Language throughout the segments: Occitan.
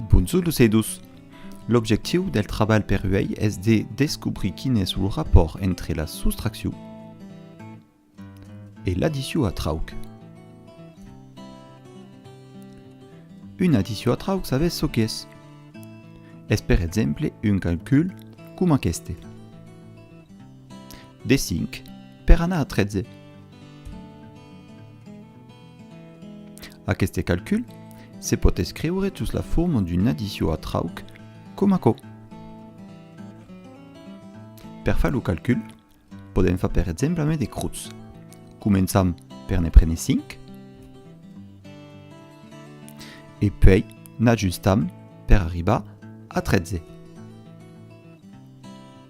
Bonjor los e dos. L'objectiu del trabalh per uèi es de descobrir quin es lo rapòrt entre la soustraccion e l'addicion a trauc. Una addicion a trauc sabètz çò qu'es? Es per exemple un calcul coma aqueste. De 5 per anar a 13. Aqueste calcul se pòt escriure sus la forma d'una addició a trauc com aquò. Per far lo calcul, podèm far per exemple ame de crutz. Començam per ne prene 5 e puèi n'ajustam per arribar a 13.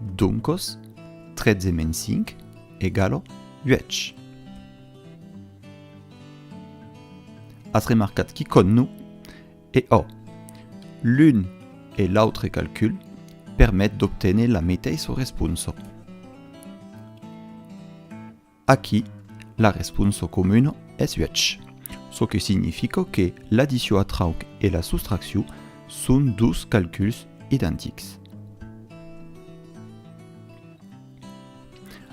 Doncos, 13 menys 5 egala 8. As remarcat qui con no? E ò! L'un e l'autre calcul permet d'obténer la meteissa responsa. Aquí, la responsa comuna es uèch, çò que significa que l'addició a trauc e la soustracció son dos calculs identics.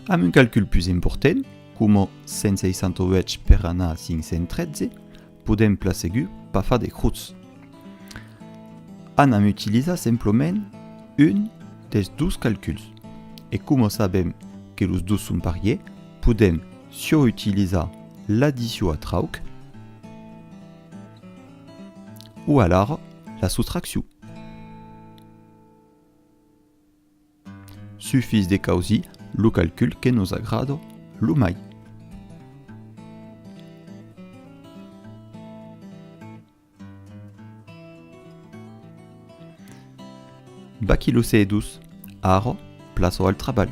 Amb un calcul pus important, coma 168 per anar a 513, Podèm plan segur pas far de crots. Anam utilizar semplament un dels dos calculs. E coma sabèm que los dos son parier, podèm siò utilizar l'addició a trauc o alara la sostracció. Sufís de causir lo calcul que nos agrada lo mai. Baquilossedos, ara plaça al trabalh.